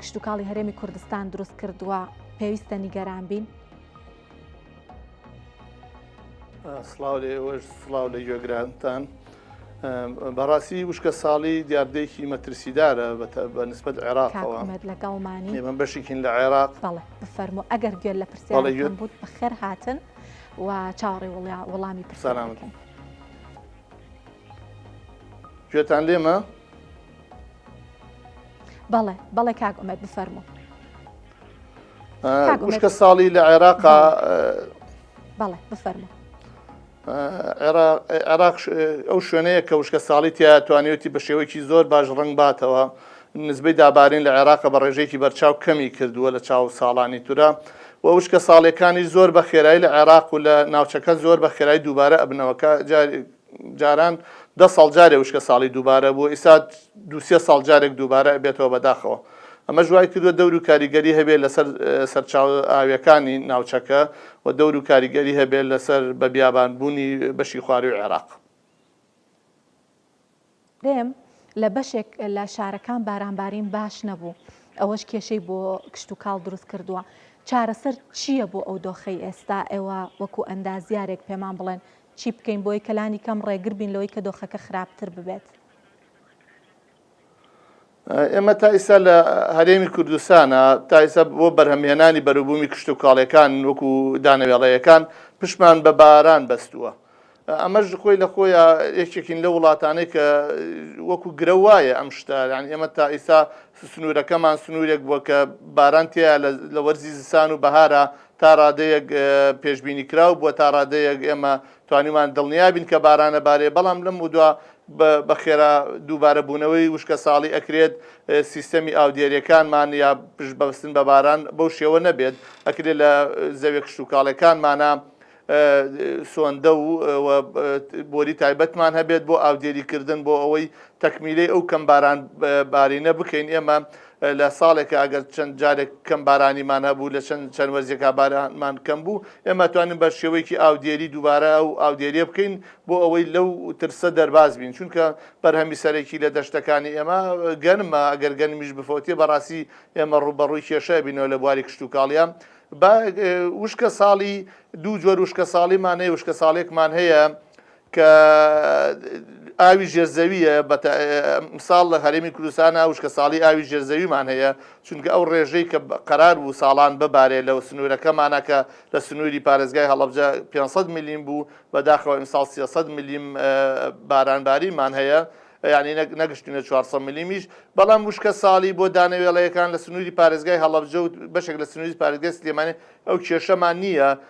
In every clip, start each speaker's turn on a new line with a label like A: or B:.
A: کشتوکاڵی هەرێمی کوردستان دروست کردووە پێویستە نیگەران بین؟
B: سلااو لە ئێوەش سلااو لە گوێگرانتان بەڕاستی وشکە ساڵی دیاردەیەکی مەترسیدارە بە نسبت عێراقەوە لەگەڵمانی ئێمە
A: بەشێکین لە
B: عێراق بفەرمو
A: ئەگەر گوێن لە پرسیارەکەم بوو بەخێر هاتن و چاوەڕێ وڵامی پرسانامەکەن
B: گوێتان لێمە؟ بەڵێ
A: بەڵێ کاک ئومێت بفەرمو خوشکە
B: ساڵی لە عێراق
A: بەڵێ بفەرمو
B: عێراق ئەو شوێنەیە کە وشکە ساڵی تیا توانیوتی بە شێوەیەکی زۆر باش ڕنگ باتەوە نزبەی دابارین لە عێراق بە ڕێژێکی بەرچاو کەمی کردووە لە چاو ساڵانی تورە و وشکە ساڵەکانی زۆر بە خێرایی لە عێراق و لە ناوچەکە زۆر بە خێرای دووبارە ئەبنەوەکە جاران دە ساڵ جارێ وشکە ساڵی دووبارە بوو ئیستا دوو سێ ساڵ جارێک دووبارە ئەبێتەوە بەداخەوە ئەمەش وای کردووە دەور و کاریگەری هەبێت لەسەر سەرچاو ئاویەکانی ناوچەکە و دەور و کاریگەری هەبێت لەسەر بە بیابان بوونی بەشی خواروی عێراق.
A: رێم لە بەشێک لە شارەکان بارانبارین باش نەبوو، ئەوەش کێشەی بۆ کشتوکاڵ دروستکردووە، چارەسەر چییە بۆ ئەو دۆخەی ئێستا؟ ئێوە وەکو ئەندازیارێک پێمان بڵێن چی بکەین بۆی کە لانیکەم رێگربین لەوەی کە دۆخەکە خراپتر ببێت؟
B: ئێمە تا ئیستا لە هەرێمی کوردستانە تا ئیستا بۆ بەرهەمهێنانی بەروبوومی کشتوکاڵەکان وەکو دانەوێڵەیەکان پشمان بە باران بەستووە. ئەمەش خۆی لە خۆی یەکێکین لە وڵاتانەی کە وەکو گرە وایە ئەم شتە یان ئێمە تا ئیستا سنوورەکەمان سنوورێک بووە کە باران تیا لە وەرزی زستان و بەهارە تا ڕادەیەک پێشببینی کراو بووە تا ڕادەیەک ئێمە توانیمان دڵنیا بین کە باران ئەبارێ بەڵام لەمەودوا بە خێرا دووبارە بوونەوەی وشکەساڵی ئەکرێت سیستەمی ئاودێریەکانمان یا پشت بەستن بە باران بەو شێوە نەبێت ئەکرێت لە زەوێ کشتتوکاڵەکانمانە سۆندە و بۆری تایبەتمان هەبێت بۆ ئاودێریکردن بۆ ئەوەی تەکمیلەی ئەو کەم باران بارینە بکەین ئێمە لە ساڵێکا ئەگەر چەند جارێک کەم بارانیمان هەبوو لە چەند چەند وەرزێکا بارانمان کەم بوو ئێمە توانین بە شێوەیەکی ئاودێری دووبارە ئەو ئاودێریە بکەین بۆ ئەوەی لەو ترسە دەرباز بین چونکە بەرهەمی سەرەکی لە دەشتەکانی ئێمە گەنمە ئەگەر گەنمیش بفەوتێ بەڕاستی ئێمە ڕوبەڕووی کێشە بینەوە لە بواری کشتتوکاڵە وشکە ساڵی دوو جۆر وشکە ساڵیمانەیە وشکە ساڵێکمان هەیە کە ئاوی ژێرزەوییە بە تە مثال لە هەرێمی کوردستانا وشکەساڵی ئاوی ژێرزەویمان هەیە چونکە ئەو ڕێژەی کە قەرار بوو ساڵان ببارێ لە سنوورەکەمانا کە لە سنووری پارێزگای هەڵەبجە پێنج سەد ملیم بوو بە داخەوە ئیمساڵ سێ سەد ملیم باران باریمان هەیە یانی نە نەگشتینە چوار سەد ملیمیش بەڵام وشکە ساڵی بۆ دانە وێڵەیەکان لە سنووری پارێزگای هەڵەبجە و بەشێک لە سنووری پارێزگای سلێمانی ئەو کێشەمان نییە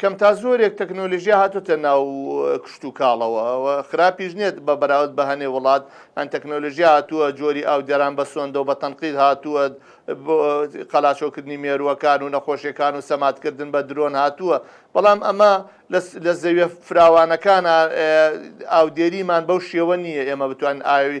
B: کەم تا زۆرێک تەکنۆلژیا هاتوتە ناو کشت و کاڵەوە خراپیش نێت بە بەراود بە هەنێ وڵات ئەن تەکنۆلژیا هاتووە جۆری ئاو دەران بە سۆندەوە بە تەنقید هاتووە قەلاشۆکردنی مێرووەکان و نەخۆشیەکان و سەماتکردن بە درۆن هاتووە بەڵام ئەمە لە زەویە فراوانەکانە ئاودێریمان بەو شێوە نییە ئێمە بتوان ئاوی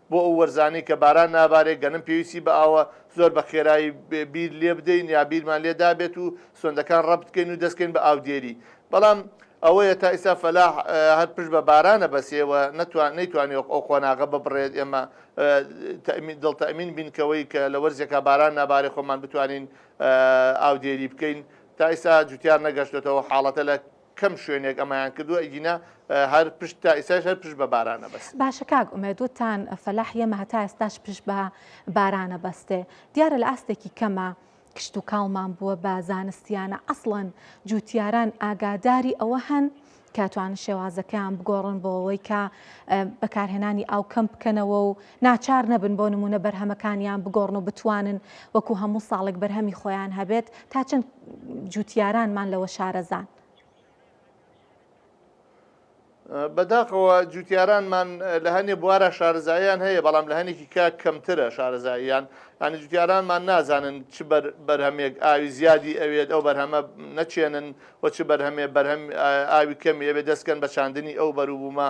B: بۆ ئەو وەرزانەی کە باران نابارێت گەنم پێویستی بە ئاوە، زۆر بە خێرایی بیر لێ بدەین یا بیرمان لێ دابێت و سۆندەکان ڕەبت بکەین و دەست بکەین بە ئاودێری. بەڵام ئەوەیە تا ئیستا فەلاح هەر پشت بە بارانە بەسێ و نەتوان نەیتوانی ئەو قۆناغە ببڕێت ئێمە تەئمین دڵ تەئمین بین کەوەی کە لە وەرزێکا باران نابارێت خۆمان بتوانین ئاودێری بکەین تا ئیستا جوتیار نەگەشتۆتەوە حاڵەتە لە کەم شوێنێک ئەمایان کردووە ئەگینا هەر پشت تا ئیساش هەر پشت بە بارانە بەس باشە کاک ئومێد
A: وتان فەلاح یەمە هەتا ئێستاش پشت بە بارانە بەستێ دیارە لە ئاستێکی کەمە کشت و کاڵمان بووە بە زانستیانە ئەسڵەن جووتیاران ئاگاداری ئەوە هەن کاتوان شێوازەکەیان بگۆڕن بۆ ئەوەی کە بەکارهێنانی ئاو کەم بکەنەوە و ناچار نەبن بۆ نموونە بەرهەمەکانیان بگۆڕن و بتوانن وەکو هەموو ساڵێک بەرهەمی خۆیان هەبێت، تا چەند جووتیارانمان لەوە شارەزان؟
B: بەداخەوە جووتیارانمان لە هەنێ بوارە شارەزاییان هەیە، بەڵام لە هەنێکی کە کەمترە شارەزاییان، یانی جووتیارانمان نازانن چ بەرهەمێک ئاوی زیادی ئەوێت، ئەو بەرهەمە نەچێنن و چ بەرهەمێ بەرهەم ئاوی کەمی ئەوێت دەستکەن بە چاندنی ئەو بەروبوومە،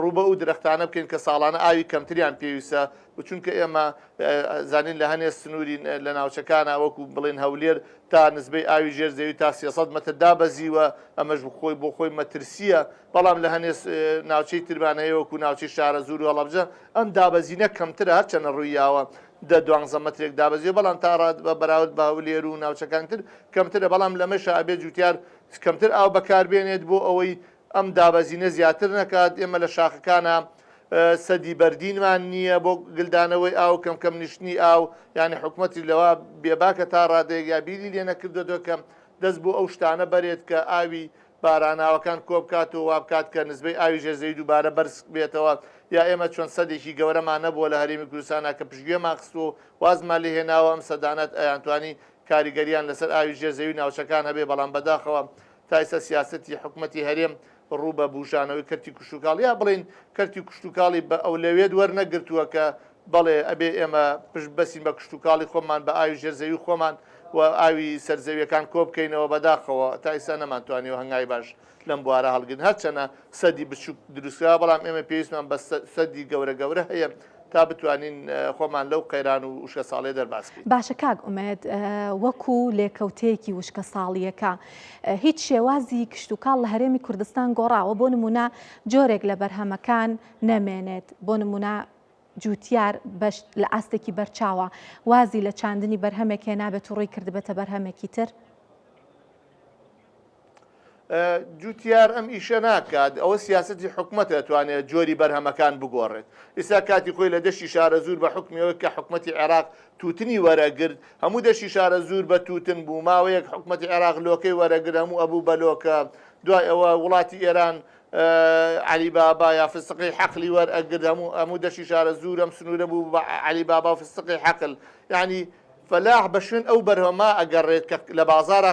B: ڕوو بە ئو درەختانە بکەین کە ساڵانە ئاوی کەمتریان پێویستە و چونکە ئێمە زانین لە هەنێ سنوری لە ناوچەکانە وەکو بڵێن هەولێر تا نزبەی ئاوی ژێر زەوی تا سێ سەد مەتر دابەزیوە ئەمەش بخۆی بۆ خۆی مەترسیە بەڵام لە هەنێ ناوچەی ترمان هەیە وەکو ناوچەی شارە زور و هەڵەبجە ئەم دابەزینە کەمترە هەرچەنە ڕویاوە دە دوانزە مەترێک دابەزیوە بەڵام تا ڕاد بە بەراورد بە هەولێر و ناوچەکان تر کەمترە بەڵام لەمەشە ئەبێ جوتیار کەمتر ئاو بەکاربێنێت بۆ ئەوەی ئەم دابەزینە زیاتر نەکات، ئێمە لە شاخەکانا سەدی بەردینمان نییە بۆ گلدانەوەی ئاو، کەم کەم نیشتنی ئاو، یانی حکومەتیش لەوە بێباکە تا ڕادەیەک یا بیری لێ نەکردۆتەوە کە دەست بۆ ئەو شتانە بەرێت کە ئاوی باراناوەکان کۆبکات و وا بکات کە نسبەی ئاوی ژێر زەوی دووبارە بەرز بێتەوە یا ئێمە چۆن سەدێکی گەورەمان نەبووە لە هەرێمی کوردستانا کە پشتگوێمان خستووە و وازمان لێ هێناوە، ئەم سەدانەت ئەیانتوانی کاریگەرییان لەسەر ئاوی ژێر زەوی ناوچەکان هەبێ، بەڵام بەداخەوە تا ئێستا سیاسەتی حکومەتی هەرێم ڕوو بە بوژانەوەی کەرتی کوشتوکاڵ یا بڵێین کەرتی کوشتوکاڵی بە ئەولەوێت وەرنەگرتووە کە بەڵێ ئەبێ ئێمە پشت بەسین بە کوشتوکاڵی خۆمان بە ئاوی ژێرزەوی خۆمان و ئاوی سەرزەویەکان کۆبکەینەوە بەداخەوە تا ئێستا نەمانتوانیەوە هەنگای باش لەم بوارە هەڵگرن هەرچەنە سەدی بچوک دروستکرا بەڵام ئێمە پێویستمان بە سەدی گەورە گەورە هەیە تا بتوانین خۆمان لەو قەیران و وشکەساڵیە دەرباز بکەین. باشە کاک ئومێد
A: وەکو لێکەوتەیەکی وشکەساڵییەکە هیچ شێوازی کشتوکاڵ لە هەرێمی کوردستان گۆڕاوە بۆ نمونە جۆرێک لە بەرهەمەکان نەمێنێت بۆ نمونە جوتیار بەش لە ئاستێکی بەرچاوە وازی لە چاندنی بەرهەمێک هێنابێت و ڕووی کردبێتە بەرهەمێکی تر؟
B: جوتیار ئەم ئیشە ناکات ئەوە سیاستی حکومەت ئەتوانێت جۆری بەرهەمەکان بگۆڕێت ئیسا کاتی خۆی لە دەشتی شارە زور بە حکمیەوە کە حکومەتی عێراق توتنی وەرەگرت هەموو دەشی شارە زور بە توتن بوو ماوەیەک حکومەتی عێراق لۆکەی وەرەگر هەموو ئەبوو بەلۆکە دوای ئەوە وڵاتی ئێران علی بابا یا فستقی حەقلی وەر ئەگرد هەموو هەموو دەشی شارە زورم سنوورە بوو بە علی بابا فستقی حەقل یعنی فلاح بە شوێن ئەو بەرهەما ئەگەڕێت کە لە بازارە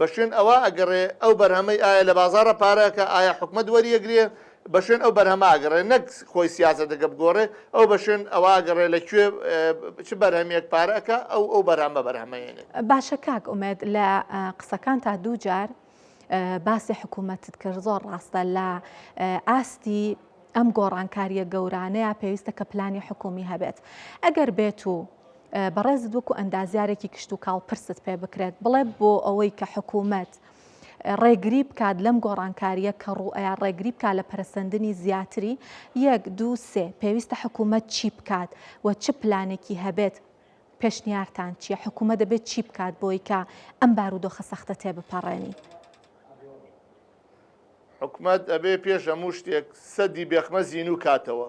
B: بەشوێن ئەوە ئەگەڕێ ئەو بەرهەمەی ئایا لە بازاڕە پارەکە ئایا حکومەت وەری ئەگرێ بەشوێن ئەو بەرهەمە ئەگەڕێ نەک خۆی سیاسەتەکە بگۆڕێ ئەو بەشوێن ئەوە ئەگەڕێ لە کوێ چ بەرهەمێک پارە ئەکا ئەو ئەو بەرهەمە بەرهەمەێنێ. باشە کاک
A: ئومێد لە قسەکان تا دوو جار باسی حکوومەتت کرد زۆر ڕاستە لە ئاستی ئەم گۆڕانکاریە گەورانەیە پێویستە کە پلانی حکومی هەبێت ئەگەر بێت و بەڕێزت وەکو ئەندازیارێکی کشتوکاڵ پرست پێ بکرێت بڵێ بۆ ئەوەی کە حکوومەت ڕێگری بکات لەم گۆڕانکاریە کە ڕوئەیە ڕێگری بکات لە پەرسەندنی زیاتری یەک دوو سێ پێویستە حکوومەت چی بکات و چ پلانێکی هەبێت پێشنیارتان چیە حکوومە دەبێت چی بکات بۆی کە ئەم بارودۆخە سەختە تێ بپەڕێنی
B: حکومت ئەبێ پێش هەموو شتێک سەدی بێخمە زین و کاتەوە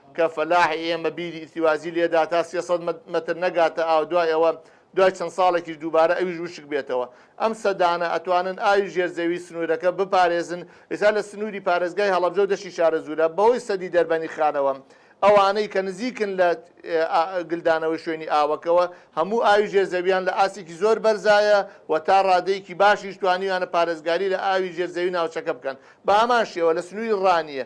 B: کە فەلاحی ئێمە بیری ئیرتیوازی لێدا تا سێ سەد مەتر نەگاتە ئاو دوای ئەوە دوای چەند ساڵێکیش دووبارە ئەویش وشک بێتەوە ئەم سەدانە ئەتوانن ئاوی ژێر زەوی سنوورەکە بپارێزن ئێستا لە سنووری پارێزگای هەڵەبجە و دەشی شارەزوورە بەهۆی سەدی دەربەنی خانەوە ئەوانەی کە نزیکن لە گلدانەوەی شوێنی ئاوەکەوە هەموو ئاوی ژێر زەویان لە ئاستێکی زۆر بەرزایە و تا ڕادەیەکی باشیش توانیویانە پارێزگاری لە ئاوی ژێر زەوی ناوچەکە بکەن بە هەمان شێوە لە سنووری ڕانیە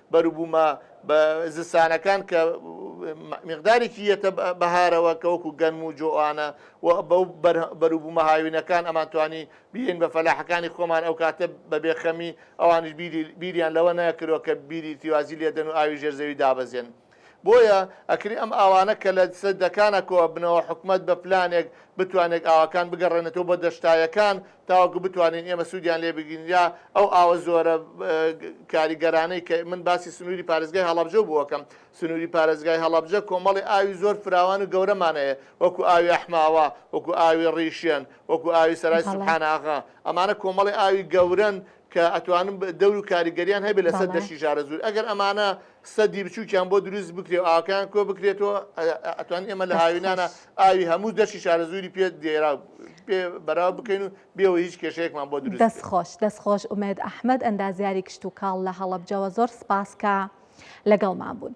B: بەروبوومە بە زستانەکان کە مقدارێکی یەتە بەهارەوە کە وەکو گەنم و جۆوانە و بەو بەروبوومە هاوینەکان ئەمان توانی بیین بە فەلاحەکانی خۆمان ئەو کاتە بە بێخەمی ئەوانش بیریان لەوە نەکرۆ کە بیری تیوازی لێدەن و ئاوی ژێرزەوی دابەزێن بۆیە ئەکری ئەم ئاوانە کە لە سەر دەکانا کۆ ئەبنەوە حکومەت بە پلانێک بتوانێک ئاوەکان بگەڕێنێتەوە بۆ دەشتایەکان تاوەکو بتوانین ئێمە سوودیان لێ بگیرین یا ئەو ئاوە زۆرە کاریگەرانەی کە من باسی سنووری پارێزگای هەڵەبجە بوو ئەکەم سنووری پارێزگای هەڵەبجە کۆمەڵی ئاوی زۆر فراوان و گەورەمان هەیە وەکو ئاوی ئەحماوە وەکو ئاوی ڕیشێن وەکو ئاوی سەرای بەڵێ سوبحان ئاغا ئەمانە کۆمەڵی ئاوی گەورەن کە ئەتوانن دەور و کاریگەریان هەبێت لەسەر بەڵێ. دەشتی ژارەزوور. ئەگەر ئەمانە سدی بچووکیان بۆ دروست بکرێ و ئاوەکەیان کۆ بکرێتەوە، ئە ئەتوانین ئێمە لە دەست هاوینانە خۆش. ئاوی هەموو دەشتی شارەزووری پێ دێرا پێ بەراو بکەین و بێ ئەوەی هیچ کێشەیەکمان بۆ دروست دەست بێت. خۆش دەست خۆش ئومێد
A: ئەحمەد ئەندازیاری کشتوکاڵ لە هەڵەبجەوە زۆر سپاس کە لەگەڵمان بوون.